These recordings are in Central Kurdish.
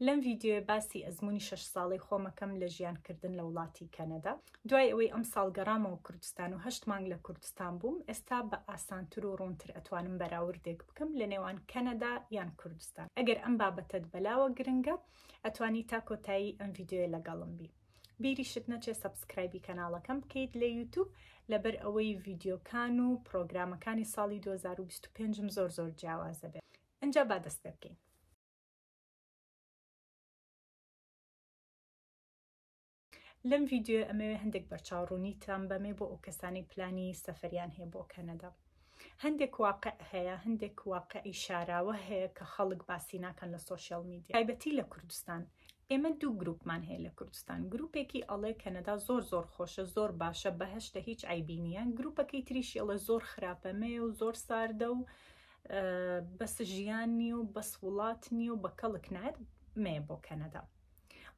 لەم ڤیددیوێ باسی ئەزمموی شش ساڵی خۆمەکەم لە ژیانکردن لە وڵاتی کەنەدا دوای ئەوەی ئەم ساڵ گەڕامەوە کوردستان و هەشت مانگ لە کوردستان بووم ئێستا بە ئاسانتر و ڕوونتر ئەتوانم بەراوردێک بکەم لە نێوان کەنەدا یان کوردستان ئەگەر ئەم بابەتت بەلاوە گرنگە ئەتوانی تا کۆتایی ئەم ڤیددیوێ لەگەڵم بی بیریشت نەچێ سەبسکرایبی کەناڵەکەم بکەیت لە یوتوب لەبەر ئەوەی ڤیدیۆکان و پرۆگرامەکانی ساڵی 2025 م زۆر زۆر جیاوازە بێت ئەجا با دەست پێ بکەین لەم ڤیددیو ئەمەوێ هەندێک بەرچاو ڕوونیتان بەمێ بۆ ئەو کەسانی پلانی سەفەریان هەیە بۆ کەنەدا هەندێک واقع هەیە هەندێک واقعی شاراوە هەیە کە خەڵک باسی ناکەن لە سۆشیال میدیا تایبەتی لە کوردستان ئێمە دوو گروپمان هەیە لە کوردستان گروپێکی ئەڵێ کەنەدا زۆر زۆر خۆشە زۆر باشە بەهشتە هیچ ئایبینیان گروپەکەی تریشی ئەڵە زۆر خراپە مێ و زۆر ساردە و بەس ژیان نیە و بەس وڵات نیە و بە کەڵک نایەت مێ بۆ کەنەدا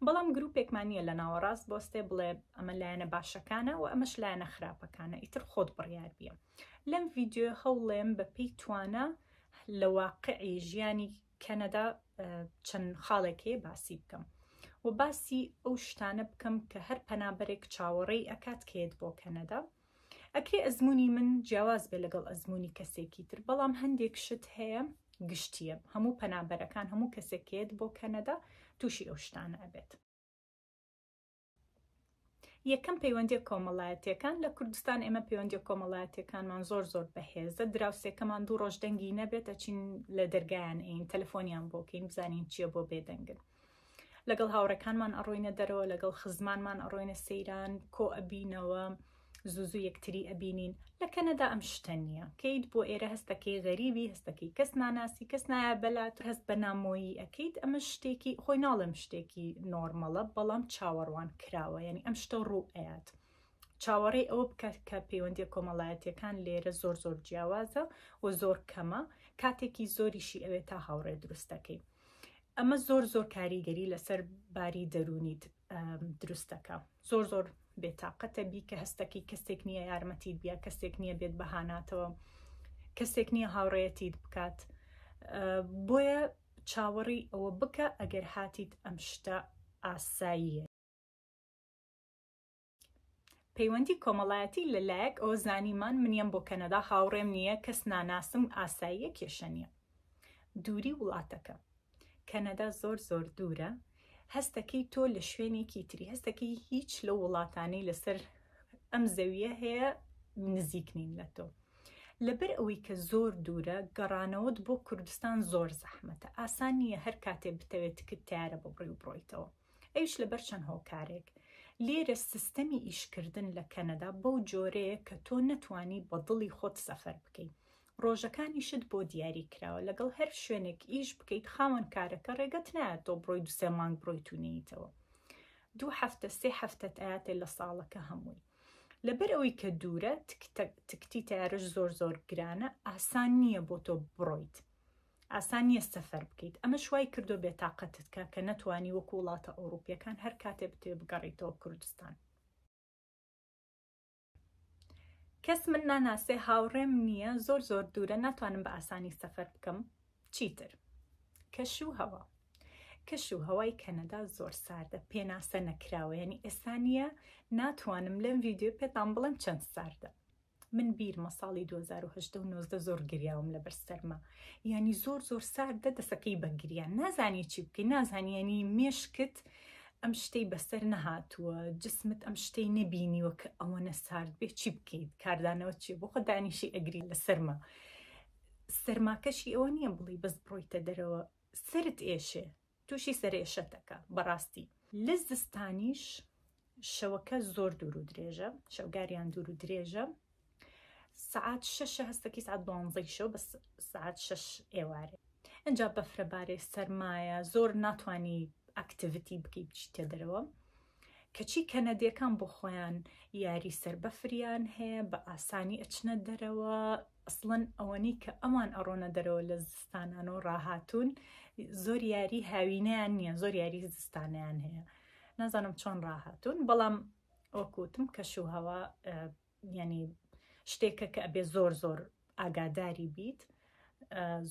بەڵام گروپێکمان نییە لە ناوەڕاست بۆستێ بڵێ ئەمە لایەنە باشەکانە و ئەمەش لایەنە خراپەکانە ئیتر خۆت بڕیار بیە لەم ڤیددیو هەوڵێم بەپی توانە لە واقعی ژیانی کەنەدا چەند خاڵێکی باسی بکەم و باسی ئەو شتانە بکەم کە هەر پەنابەرێک چاوەڕێی ئەکات کێت بۆ کەنەدا ئەکرێ ئەزمونی من جیاواز بێ لەگەڵ ئەزمونی کەسێکی تر بەڵام هەندێک شت هەیە گشتیە هەموو پەنابەرەکان هەموو کەسێکێت بۆ کەنەدا تووشی ئەو شتانە ئەبێت یەکەم پەیوەندی کۆمەڵایەتەکان لە کوردستان ئێمە پەیوەندی کۆمەڵایەتەکانمان زۆر زۆر بەهێزە دراوسێکەمان دوو ڕۆژ دەنگی نەبێت ئەچین لە دەرگایان ئەین تەلەفۆنیان بۆکەین بزانین چییە بۆ بێدەنگن لەگەڵ هاوڕێکانمان ئەڕۆینە دەرەوە لەگەڵ خزمانمان ئەڕۆینە سەیران کۆ ئەبینەوە زوزو یەکتری ئەبینین لە کەنەدا ئەم شتە نییە کەیت بۆ ئێرە هەستەکەی غەریبی هەستەکەی کەس ناناسی کەس نایە بەلات هەست بە نامۆیی ئەەکەیت ئەمە شتێکی خۆی ناڵم شتێکی نۆرمەڵە بەڵام چاوەڕوان کراوە یعنی ئەم شتە ڕوو ئەات چاوەڕێ ئەوە بکات کە پەیوەندی کۆمەڵایەتەکان لێرە زۆر زۆر جیاوازە و زۆر کەمە کاتێکی زۆریشی ئەوێت تا هاوڕێ دروستەکەی ئەمە زۆر زۆر کاریگەری لەسەر باری دەرونیت دروستەکە زۆر زۆر بێتاقەتە بی کە هەستەکەی کەسێک نییە یارمەتی بیا کەسێک نییە بێت بەهاناتەوە کەسێک نییە هاوڕێتیت بکات بۆیە چاوەڕی ئەوە بکە ئەگەر هاتیت ئەم شتە ئاساییە پەیوەندی کۆمەڵایەتی لە لایەک ئەوە زانیمان منیەم بۆ کەنەدا هاوڕێم نییە کەس ناناسم ئاساییە کێشە نییە دووری وڵاتەکە کەنەدا زۆر زۆر دوورە هەستەکەی تۆ لە شوێنێکی تری هەستەکەی هیچ لە وڵاتانی لەسەر ئەم زەویە هەیە نزیک نین لە تۆ لەبەر ئەوەی کە زۆر دوورە گەڕانەوەت بۆ کوردستان زۆر زەحمەتە ئاسان نییە هەر کاتێ بتەوێت تکت تارە بۆ بڕی و بڕۆیتەوە ئەویش لەبەر چەند هۆکارێک لێرە سیستەمی ئیشکردن لە کەنەدا بەو جۆرەیە کە تۆ نەتوانی بە دڵی خۆت سەفەر بکەیت ڕۆژەکانیشت بۆ دیاری کراوە لەگەڵ هەر شوێنێک ئیش بکەیت خاوەن کارەکە ڕێگەت نایە تۆ بڕۆی دو سێ مانگ بڕۆی تونیتەوە دوو هەفتە سێ هەفتەت ئااتێ لە ساڵەکە هەمووی لەبەر ئەوەی کە دوورە تکتی تارش زۆر زۆر گرانە ئاسان نییە بۆ تۆ بڕۆیت ئاسان نیە سەفەر بکەیت، ئەمەش وای کردوە بێتاقەتت کا کە نەتوانی وەکو وڵاتە ئەوڕوپیەکان هەر کاتێ بتەوێ بگەڕێیتەوە کوردستان. کەس من ناناسێ هاوڕێم نیە زۆر زۆر دوورە ناتوانم بە ئاسانی سەفەر بکەم چیتر کەش و هەوا کەش و هەوای کەنەدا زۆر ساردە پێناسە نەکراوە ینی ئێستا نیە ناتوانم لەم ڤیددیو پێتان بڵم چەند ساردە من بیرمە ساڵی دوو هەزار و هەژدە و نۆزدە زۆر گریاوم لەبەر سەرما یانی زۆر زۆر ساردە دەسەکەی بە گریان نازانی چی بکەی نازانیانی مێشکت ئەم شتەی بەسەر نەهاتووە جسمت ئەم شتەی نەبینیوە کە ئەوەنە سارد بێ چی بکەیت کاردانەوە چی بۆ خۆ دانیشی ئەگری لە سەرما سەرماکەشی ئەوە نییە بڵی بەس بڕۆیتە دەرەوە سرت ئێشێ توشی سەرئێشەت دەکا بەڕاستی. لە زستانیش شەوەکە زۆر دوور و درێژە شەوگاریان دوور و درێژە سعات شەشە هەستەکی سعات دوانزەی شەو بە سعات شەش ئێوارێ ئەجا بەفرەبارێ سەرمایە زۆر ناتانی ئەکتیڤتی بکەی بچیتە دەرەوە کەچی کەنەدیەکان بۆ خۆیان یاری سەر بەفریان هەیە بە ئاسانی ئەچنە دەرەوە ئەسڵەن ئەوەنی کە ئەوان ئەڕۆنە دەرەوە لە زستانان و ڕاهاتون زۆر یاری هاوینیان نییە زۆر یاری زستانیان هەیە نازانم چۆن ڕاهاتون بەڵام وەکوتم کەش و هەوا یعنی شتێکە کە ئەبێ زۆر زۆر ئاگاداری بیت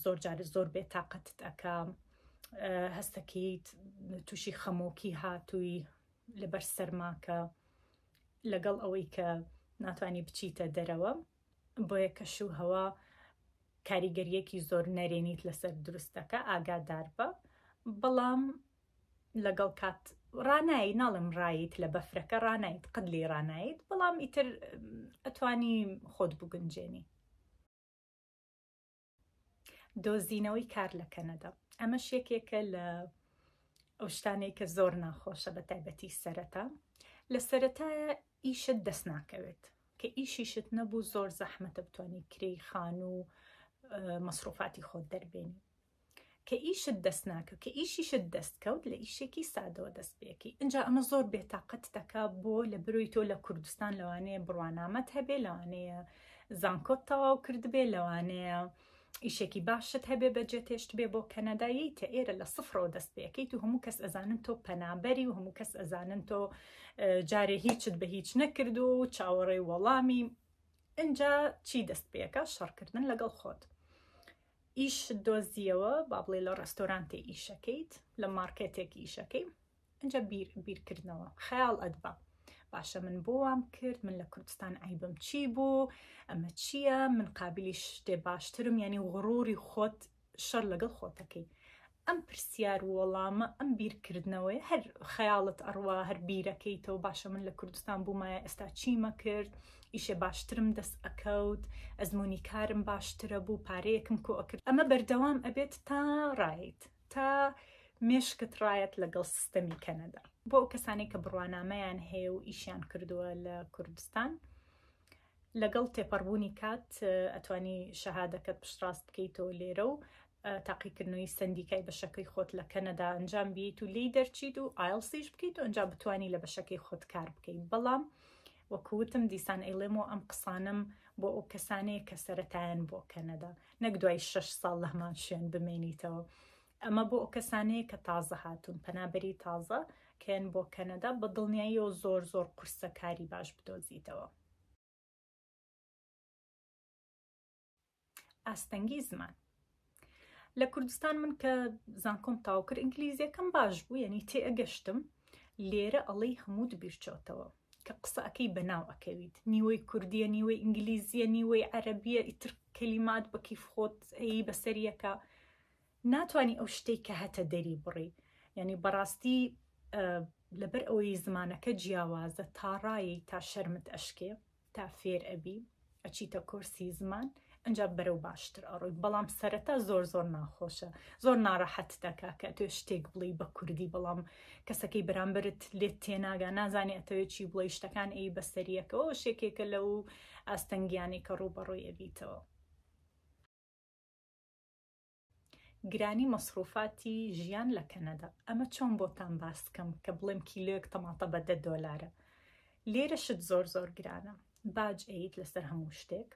زۆر جار زۆر بێ تااقەتت ئەکا هەستەکەیت تووشی خەمۆکی هاتووی لەبەر سەرماکە لەگەڵ ئەوەی کە ناتانی بچیتە دەرەوە بۆیە کەش و هەوا کاریگەریەکی زۆر نەرێنیت لەسەر دروستەکە ئاگادار بە بەڵام لەگەڵ کات ڕاناییت ناڵێم ڕاییت لە بەفرەکە ڕاناییت قەت لێی ڕاناییت بەڵام ئیتر ئەتوانی خۆت بگونجێنی. دۆزینەوەی کار لە کەنەدا ئەمەش یەکێکە لە ئەو شتانەی کە زۆر ناخۆشە بە تایبەتی سەرەتا لە سەرەتایە ئیشت دەست ناکەوێت کە ئیشیشت نەبوو زۆر زەحمەتە بتانی کرێی خان و مەسروفاتی خۆت دەربێنی کە ئیشت دەست ناکەوت کە ئیشیشت دەست کەوت لە ئیشێکی سادەوە دەست پێکی ئەجا ئەمە زۆر بێتاقەت دەکا بۆ لە بروی تۆ لە کوردستان لەوانەیە بڕوانامەت هەبێ لەوانەیە زانکۆت تەواو کردبێ لەوانەیە ئیشێکی باشت هەبێ بەجێ تێشت بێ بۆ کەنەدایی تە ئێرە لە سفرەوە دەست پێکەیت و هەموو کەس ئەزانن تۆ پەنابەری و هەموو کەس ئەزانن تۆ جارێ هیچت بە هیچ نەکرد و چاوەڕێی وەڵامی ئەجا چی دەست پێەکە شەڕکردن لەگەڵ خۆت ئیشت دۆزیەوە با بڵێ لە ڕێستۆرانتێ ئیشەکەیت لە مارکێتێک ئیشەکەی ئەجا بیر بیرکردنەوە خەیاڵ ئەدبا باشە من بۆ وام کرد من لە کوردستان عیبم چی بوو ئەمە چییە من قابلی شتێ باشترم یعنی غڕوری خۆت شەر لەگەڵ خۆتەکەی ئەم پرسیار و وەڵامە، ئەم بیرکردنەوەیە، هەر خەیاڵت ئەڕوا، هەر بیرەکەیتەوە، باشە من لە کوردستان بوومایە ئێستا چیم ئەکرد، ئیشێ باشترم دەست ئەکەوت، ئەزموونی کارم باشترە بوو، پارەیەکم کۆ ئەکرد. ئەمە بەردەوام ئەبێت تا ڕایت، تا مێشکت ڕایەت لەگەڵ سیستەمی کەنەدا. بۆ ئەو کەسانەی کە بڕوانامەیان هەیە و ئیشیان کردووە لە کوردستان، لەگەڵ تێپەڕبوونی کات ئەتوانی شەهادەکەت پشتڕاست بکەیتەوە لێرە و تاقیکردنەوەی سەندیکای بەشەکەی خۆت لە کەنەدا ئەنجام بیت و لێی دەرچیت و ئایلسیش بکەیت و ئەنجام بتانی لە بەشەکەی خۆت کار بکەیت بەڵام وەکوتم دیسان ئەیڵێم و ئەم قسانم بۆ ئەو کەسانەیە کە سەتایەن بۆ کەنەدا نەک دوای شش ساڵ لە هەمان شوێن بمێنیتەوە ئەمە بۆ ئەو کەسانەیە کە تازە هاتوون پەنابەری تازە کەن بۆ کەنەدا بە دڵنیایی و زۆر زۆر قورسە کاری باش بدۆزیتەوە ئاستەنگی زمان لە کوردستان من کە زانکۆم تاوکرد ئینگلیزیەکەم باش بوو یعنی تێئەگەشتم لێرە ئەڵەی هەمووت بیرچۆتەوە کە قسەکەی بەناو ئەکەویت نیوەی کوردیە نیوەی ئینگلیزیە نیوەی عەربیە ئیتر کەلیمات بەکیف خۆت ئەی بەسەریەکە ناتانی ئەو شتێک کە هەتە دەری بڕی یعنی بەڕاستی لەبەر ئەوەی زمانەکە جیاوازە تا ڕایەی تا شەرمت ئەشکێ تا فێر ئەبی ئەچیتە کۆرسی زمان ئەنجا بەرەو باشتر ئەڕۆی بەڵام سەرەتا زۆر زۆر ناخۆشە زۆر ناڕەحەت دەکا کە توێ شتێک بڵی بە کوردی بەڵام کەسەکەی بەرامبرت لێت تێناگا نازانێ ئەتەوێت چی بڵی شتەکان ئەی بەسەریەکەەوە شێکێکە لەو ئاستەنگیانەی کە ڕووبەڕۆی ئەبیتەوە گرانی مەسروفاتی ژیان لە کەنەدا ئەمە چۆن بۆتان باس بکەم کە بڵێم کیلۆیەک تەماتە بە دە دۆلارە لێرە شت زۆر زۆر گرانە باج ئەیت لەسەر هەموو شتێک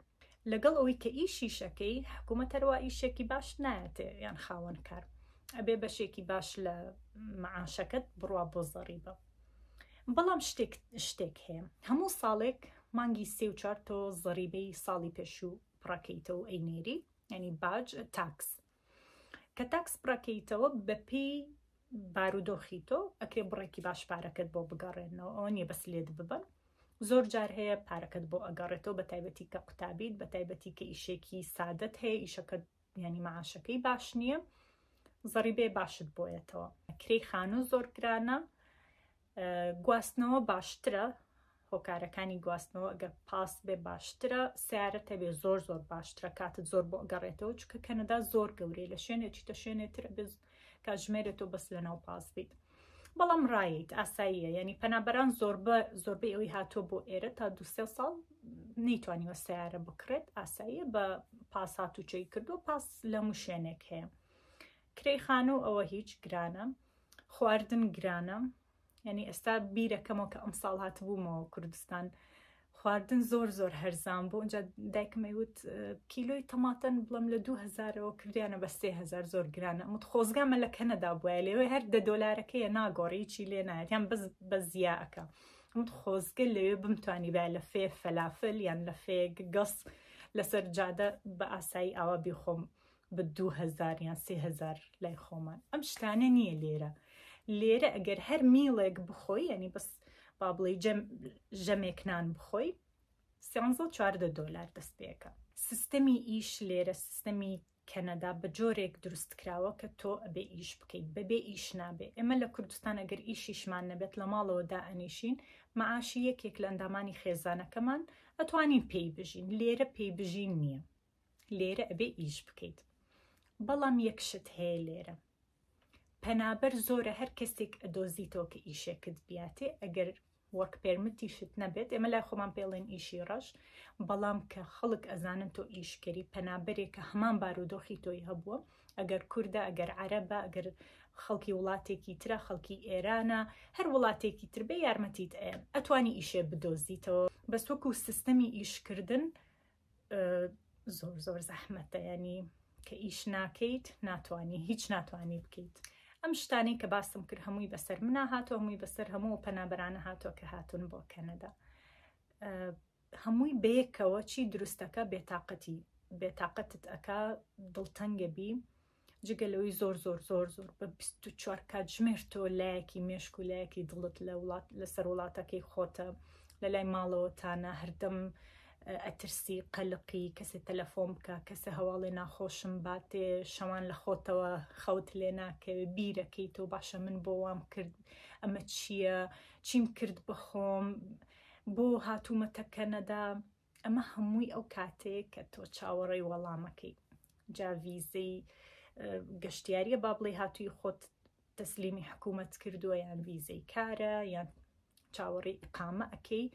لەگەڵ ئەوەی کە ئیشیشەکەی حکوومەت هەروە ئیشێکی باش نایەتێ یان خاوەن کار ئەبێ بەشێکی باش لە معاشەکەت بڕوا بۆ زەڕیبە بەڵام شتێک شتێک هەیە هەموو ساڵێک مانگی سێ و چوار تۆ زەریبەی ساڵی پێشوو پڕەکەیتەوە ئەینێری یعنی باج تاکس کە تاکس بڕەکەیتەوە بەپی بارودۆخی تۆ ئەکرێ بڕێکی باش پارەکەت بۆ بگەڕێنەوە ئەوە نیە بەس لێت ببن زۆر جار هەیە پارەکەت بۆ ئەگەڕێتەوە بە تایبەتی کە قوتابیت بە تایبەتی کە ئیشێکی سادت هەیە ئیشەکە ینی معاشەکەی باش نییە زەڕی بێ باشت بۆیەتەوە کرێی خانوو زۆر گرانە گواستنەوە باشترە هۆکارەکانی گواستنەوە ئەگەر پاس بێ باشترە سیارە تەبێ زۆر زۆر باشترە کاتت زۆر بۆ گەڕێتەوە چکە کەنەدا زۆر گەورەی لە شوێنێکی تە شوێنێتر بێت کاتژمێرێت و بەس لەناو پاس بیت بەڵام ڕایت ئاساییە ینی پەنابەران زۆربە زۆربەی ئەوی هاتۆ بۆ ئێرە تا دو سێ ساڵ نەیتوانیوە سیارە بکڕێت ئاساییە بە پاسات و چی کردو پاس لە مشوێنێک هەیە کرێی خانوو ئەوە هیچ گرانە خواردن گرانە یعنی ئێستا بیرەکەمەوە کە ئەم ساڵ هاتبوومەوە کوردستان خواردن زۆر زۆر هەرزان بوو ئەجا دایکمەی وت کیلۆی تەماتەن بڵم لە 2000ەوە کردیانە بە 3000 زۆر گرانە ئەمت خۆزگامە لە کەنەدا بواە لەوێ هەر دە دۆلارەکەیە ناگۆڕیی لێ نایەت یان بەس بە زیاکە ئەمت خۆزگە لەوێ بمتوانی با لە فێ فەلافل یان لە فێ گەس لەسەر جادە بە ئاسایی ئاوا بیخۆم بە دوو هەزار یان سێ هەزار لای خۆمان ئەم شتانە نییە لێرە لێرە ئەگەر هەر میڵێک بخۆی یعنی بەس با بڵێ ژەمێک نان بخۆی سیانزە چواردە دۆلار دەست پێەکە سیستەمی ئیش لێرە سیستەمی کەنەدا بە جۆرێک دروست کراوە کە تۆ ئەبێ ئیش بکەیت بەبێ ئیش نابێ ئێمە لە کوردستان ئەگەر ئیشیشمان نەبێت لە ماڵەوە دا ئەنیشین معاشی یەکێک لە ئەندامانی خێزانەکەمان ئەتوانین پێی بژین لێرە پێی بژین نییە لێرە ئەبێ ئیش بکەیت بەڵام یەک شت هەیە لێرە پەنابەر زۆرە هەر کەسێک ئەدۆزیتەوە کە ئیشێکت بیاتێ ئەگەر وەک پێرمتیشت نەبێت ئێمە لای خۆمان پێڵێن ئیشی ڕەش بەڵام کە خەڵک ئەزانن تۆ ئیشکەری پەنابەرێک کە هەمان بارودۆخی تۆی هەبووە ئەگەر کووردە ئەگەر عربە ئەگەر خەڵکی وڵاتێکی ترە خەڵکی ئێرانە هەر وڵاتێکی تر بێ یارمەتیت ئەتوانی ئیشێ بدۆزیتەوە بەس وەکو سیستەمی ئیشکردن زۆر زۆر زەحمەتە ینی کە ئیش ناکەیت ناتوانانی هیچ ناتوانانی بکەیت ئەم شتانی کە باستم کرد هەمووی بەسەر منا هاتۆ هەمووی بەسەر هەموو پەنابەرانە هاتۆ کە هاتون بۆ کەنەدا هەمووی بەیەکەوە چی دروستەکە بێتاقەتی بێتاقەتت ئەک دڵتەنگە بی جگە لەوەی زۆر زۆر زۆر زۆر بە 24 کاتژمێر تۆ لایەکی مێشک و لایەکی دڵت لە وڵات لەسەر وڵاتەکەی خۆتە لە لای ماڵەوە تانە هەردەم ئەترسی قەلقی کەسێ تەلەفۆن بکە کەسە هەواڵێ ناخۆشم باتێ شەوان لە خۆتەوە خەوت لێ ناکەوێ بیرەکەی تۆ باشە من بۆ وام کرد ئەمە چییە چیم کرد بەخۆم بۆ هاتوومەتە کەنەدا ئەمە هەمووی ئەو کاتەیە کە تۆ چاوەڕێی وەڵامەکەی جا ڤیزەی گەشتیاریە با بڵێ هاتووی خۆت تەسلیمی حکوومەت کردووە یان ڤیزەی کارە یان چاوەڕی ئقامە ئەەکەی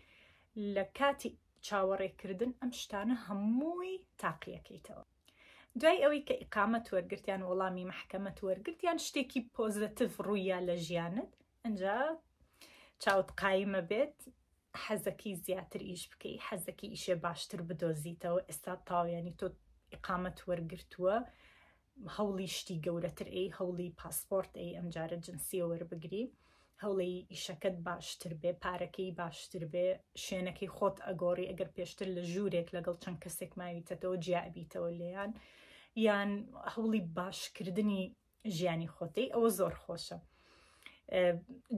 لە کاتی چاوەڕێکردن ئەم شتانە هەمووی تاقیەکەیتەوە دوای ئەوەی کە ئقامەت وەرگرتیان وەڵامی محکەمەت وەرگرتیان شتێکی پۆزەتیف ڕوویا لە ژیانت ئنجا چاوت قایمە بێت حەزەکەی زیاتر ئیش بکەی حەزەکەی ئیشێ باشتر بدۆزیتەوە ئێستا تاویانی تۆ ئقامەت وەرگتووە هەوڵی شتی گەورەتر ئەی هەوڵی پاسپۆرت ئەی ئەمجارە جنسیە وەربگری هەوڵی ئیشەکەت باشتر بێ پارەکەی باشتر بێ شوێنەکەی خۆت ئەگۆڕی ئەگەر پێشتر لە ژوورێک لەگەڵ چەند کەسێک ماویتەتەوە جیابیتەوە لێیان یان هەوڵی باشکردنی ژیانی خۆتەی ئەوە زۆر خۆشە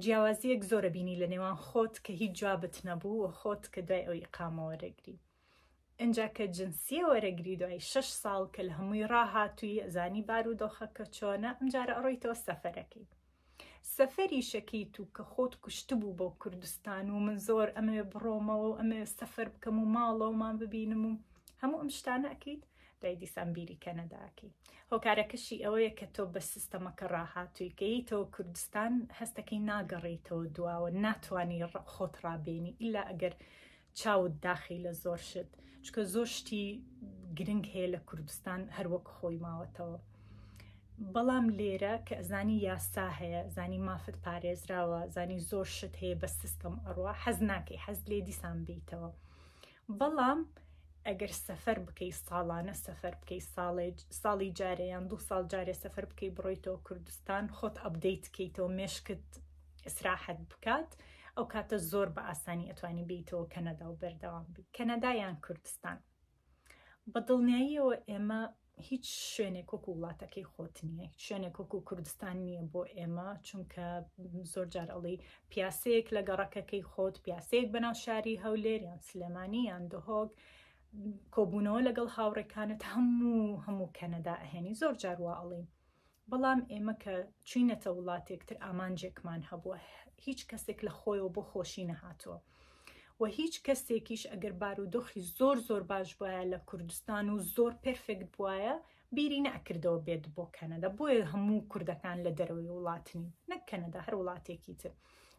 جیاوازیەک زۆرە بینی لە نێوان خۆت کە هیچ جوابت نەبوو و خۆت کە دوای ئەوی قامەوەرەگری ئەجا کە جنسیە وەرەگری دوای شش ساڵ کە لە هەمووی ڕاهاتووی ئەزانی بار و دۆخەکە چۆنە ئەمجارە ئەڕۆیتەوە سەفەرەکەی سەفەری شەکیت و کە خۆت کوشتبوو بۆ کوردستان و من زۆر ئەمەوێ بڕۆمەوە و ئەمەوێ سەفەر بکەم و ماڵەوەمان ببینم و هەموو ئەم شتانە ئەکەیت دەی دیسان بیری کەنەداکەی هۆکارەکەشی ئەوەیە کە تۆ بە سیستەمەکە ڕاهاتووی کەیتەوە کوردستان هەستەکەی ناگەڕیتەوە دواوە ناتوانانی خۆت ڕابێنی ئیلا ئەگەر چاوت داخی لە زۆر شت چکە زۆر شتی گرنگ هەیە لە کوردستان هەروەک خۆی ماوەتەوە بەڵام لێرە کە زانی یاسا هەیە زانی مافت پارێزراوە زانی زۆر شت هەیە بە سیستم ئەڕوا حەز ناکەی حەز لێ دیسان بیتەوە بەڵام ئەگەر سەفەر بکەی ساڵانە سەفەر بکەی ساڵێ ساڵی جارەیان دوو ساڵ جارێ سەفەر بکەی بڕۆیتەوە کوردستان خۆت ئەبدەیت کەیتەوە مێشکت ئیسراحەت بکات ئەو کاتە زۆر بە ئاسانی ئەتوانی بیتەوە کەنەدا و بەردەوام بی کەنەدایان کوردستان بە دڵنیاییەوە ئێمە هیچ شوێنێک وەکو وڵاتەکەی خۆت نییە هیچ شوێنێک وەکو کوردستان نییە بۆ ئێمە چونکە زۆر جار ئەڵی پیاسەیەک لە گەڕەکەکەی خۆت پیاسەیەک بەناو شاری هەولێر یان سلێمانی یان دهۆک کۆبوونەوە لەگەڵ هاوڕێکانت هەموو هەموو کەنەدا ئەهێنی زۆر جار وا ئەڵین بەڵام ئێمە کە چووینەتە وڵاتێک تر ئامانجێکمان هەبووە هیچ کەسێک لە خۆیەوە بۆ خۆشی نەهاتووە و هیچ کەسێکیش ئەگەر بارودۆخی زۆر زۆر باش بواە لە کوردستان و زۆر پرفێکت بواە بیری نەکردەوە بێت بۆ کەنەدا بۆیە هەموو کوردەکان لە دەرەوەی وڵاتنی نەک کەنەدا هەر وڵاتێکی تر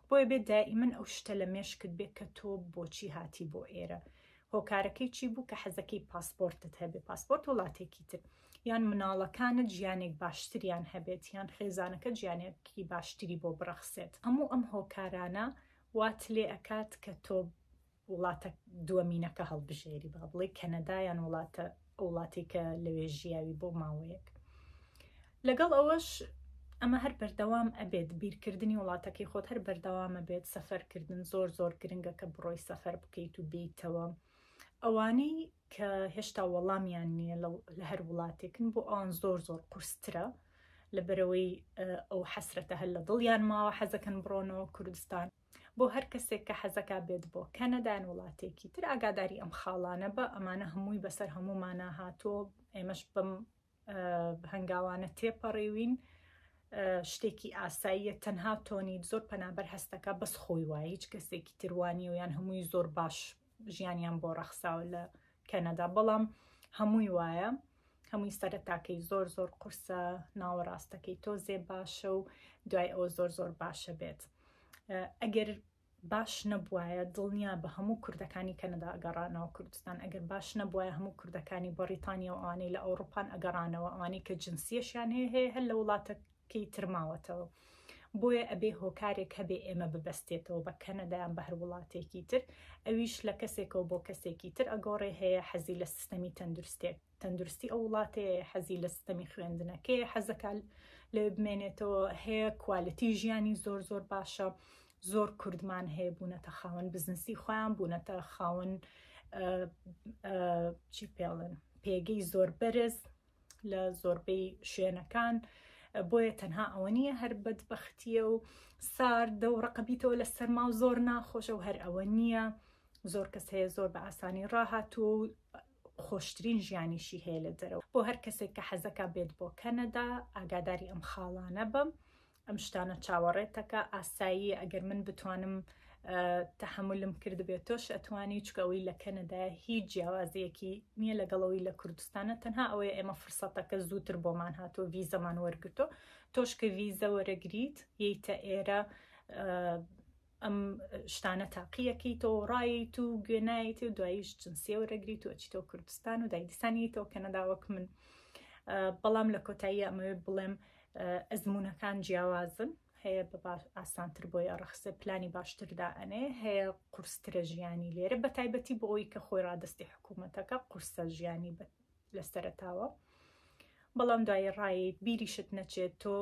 بۆیە بێت دائیمن ئەو شتە لە مێشکت بێت کە تۆ بۆچی هاتی بۆ ئێرە هۆکارەکەی چی بوو کە حەزەکەی پاسپۆرتت هەبێ پاسپۆرت وڵاتێکی تر یان مناڵەکانت ژیانێک باشتریان هەبێت یان خێزانەکە ژیانێکی باشتری بۆ بڕەخسێت هەموو ئەم هۆکارانە وات لێ ئەکات کە تۆ وڵاتە دووەمینەکە هەڵبژێری با بڵێ کەنەدایان وڵاتە وڵاتی کە لەوێ ژیاوی بۆ ماوەیەک لەگەڵ ئەوەش ئەمە هەر بەردەوام ئەبێت بیرکردنی وڵاتەکەی خۆت هەر بەردەوامە بێت سەفەرکردن زۆر زۆر گرنگە کە بڕۆی سەفەر بکەیت و بیتەوە ئەوانەی کە هێشتا وەڵامیان نیە لە هەر وڵاتێکن بۆ ئەوان زۆر زۆر قورسترە لەبەرەوەی ئەو حەسرەتە هەر لە دڵیان ماوە حەزەکەن بڕۆنەوە کوردستان بۆ هەر کەسێک کە حەزەکە بێت بۆ کەنەدان وڵاتێکی تر ئاگاداری ئەم خاڵانە بە ئەمانە هەمووی بەسەر هەموومانە هاتۆ ئێمەش بم هەنگاوانە تێپەڕیوین شتێکی ئاساییە تەنها تۆنیت زۆر پەنابەر هەستەکە بەس خۆی وایە هیچ کەسێکی تروانی و یان هەمووی زۆر باش ژیانیان بۆ ڕەخساوە لە کەنەدا بەڵام هەمووی وایە هەمووی سەرەتاکەی زۆر زۆر قورسە ناوەڕاستەکەی تۆزێ باشە و دوای ئەوە زۆر زۆر باشە بێت ئەگەر باش نەبوایە دڵنیا بە هەموو کوردەکانی کەنەدا ئەگەڕانەوە کوردستان ئەگەر باش نەبوایە هەموو کوردەکانی بەڕیتانیا و ئەوانەی لە ئەوڕوپان ئەگەڕانەوە ئەوانەی کە جنسیەشیان هەیە هەیە هەر لە وڵاتە کەی ترماوەتەوە بۆیە ئەبێ هۆکارێک هەبێ ئێمە ببەستێتەوە بە کەنەدایان بە هەر وڵاتێکی تر ئەویش لە کەسێکەوە بۆ کەسێکی تر ئەگۆڕێ هەیە حەزی لە سیستەمی تەندروستێک تەندروستی ئەو وڵاتەیە حەزی لە ستەمی خوێندنەکەی حەزەکە لەوێ بمێنێتەوە هەیە کوالەتی ژیانی زۆر زۆر باشە زۆر کوردمان هەیە بوونەتە خاوەن بزنسی خۆیان بوونەتە خاوەن چی پێڵن پێگەی زۆر بەرز لە زۆربەی شوێنەکان بۆیە تەنها ئەوە نییە هەر بەدبختیە و ساردە و ڕقبیتەوە لە سەرما و زۆر ناخۆشە و هەر ئەوە نییە زۆر کەس هەیە زۆر بە ئاسانی ڕاهاتوو خۆشترین ژیانیشی هەیە لە دەرەوە بۆ هەر کەسێک کە حەزەکە بێت بۆ کەنەدا ئاگاداری ئەم خاڵانە بم ئەم شتانە چاوەڕێتەکە ئاسایی ئەگەر من بتوانم تحملم کردبێت تۆش ئەتوانی چکەوەی لە کەنەدا هیچ جیاوازیەکی نییە لەگەڵەوەی لە کوردستانە تەنها ئەوەیە ئێمە فرسەتەکە زووتر بۆمان هاتۆ ویزەمان وەرگتۆ تۆش کە ویزە وەرەگریت یتە ئێرە ئەم شتانە تاقیەکەی تۆ ڕایت و گوێنایت و دواییش جنسیە وەرەگری تۆ چیتەوە کوردستان و دایدستانی تۆ کەنەداوەک من بەڵام لە کۆتایی ئەمەوێت بڵێم ئەزمونونەکان جیاوازن هەیە بە ئاسانتر بۆی ئەڕخسێ پلانی باشتردا ئەنێ هەیە قورسترە ژیانی لێرە بە تایبەتی بۆ ئەوی کە خۆی ڕادستی حکوومەتەکە قورسە ژیانی لە سەرەتاوە بەڵام دوایی ڕایت بیریشت نەچێت تۆ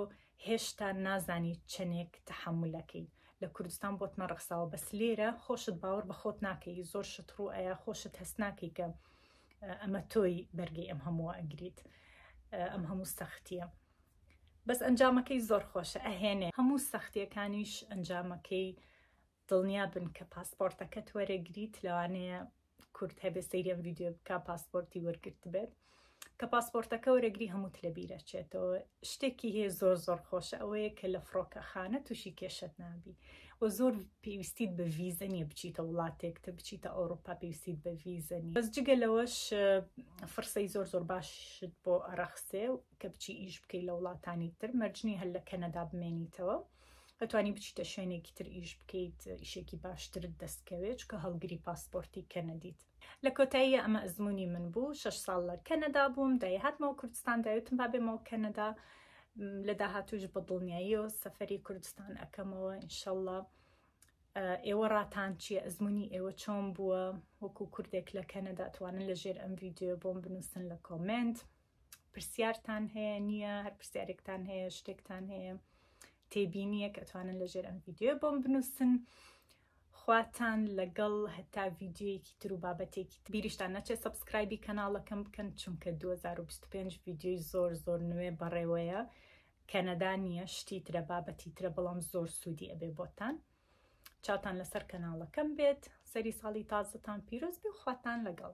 هێشتا نازانی چەندێک تەحملەکەی لە کوردستان بۆت نەڕخساوە بەس لێرە خۆشت باوەڕ بە خۆت ناکەی زۆر شت ڕوو ئەیە خۆشت هەست ناکەی کە ئەمە تۆی بەرگی ئەم هەمووە ئەگریت ئەم هەموو سەختیە بەس ئەنجامەکەی زۆر خۆشە ئەهێنێ هەموو سەختیەکانیش ئەنجامەکەی دڵنیا بن کە پاسپۆرتەکەت وەرەگریت لەوانەیە کورد هەبێ سەیری ئەم ڤیدیۆ بکە پاسپۆرتی وەرگرت بێت کە پاسپۆرتەکە وەرەگری هەمووت لە بیرەچێتەوە شتێکی هەیە زۆر زۆر خۆشە ئەوەیە کە لە فڕۆکە خانە تووشی کێشت نابی و زۆر پێویستیت بە ڤیزە نیە بچیتە وڵاتێک تە بچیتە ئەوروپا پێویستیت بە ڤیزەنی بەس جگە لەوەش فرسەی زۆر زۆر باشت بۆ ئەرەخسێ کە بچی ئیش بکەی لە وڵاتانی تر مەرجنی هەر لە کەنەدا بمێنیتەوە و ئەتوانی بچیتە شوێنێکی تر ئیش بکەیت ئیشێکی باشترت دەستکەوێت چکە هەڵگری پاسپۆرتی کەنەدیت لە کۆتایی ئەمە ئەزمموی من بوو شش ساڵ لە کەنەدا بووم دای هاتمەوە کوردستان داوتم با بێمەوە کەنەدا لە داهاتوش بە دڵنیایی و سەفری کوردستان ئەەکەمەوە ئینشەله ئێوە ڕاتان چیە ئەزمموی ئێوە چۆن بووە وەکو کوردێک لە کەنەدا توانن لە ژێر ئەم ویددیو بۆم بنووسن لە کۆمنت. پرسیارتان هەیە نییە هەر پرسیارێکتان هەیە شتێکتان هەیە تێبینیەک ئەتوانن لەژێر ئەم ڤیددیو بۆم بنووسن خواتان لەگەڵ هەتا ڤیددیویەکی تر و بابەتێکی بیریشتان نەچێت سبسکرایبی کەناڵەکەم بکەن چونکە 2025 ڤیددیوی زۆر زۆر نوێ بەڕێوەیە کەنەدا نییە شتی ترە بابەتی ترە بەڵام زۆر سوودی ئەبێ بۆتان چاوتان لەسەر کەناڵەکەم بێت سەری ساڵی تازتان پیرۆز بێ خواتان لەگەڵ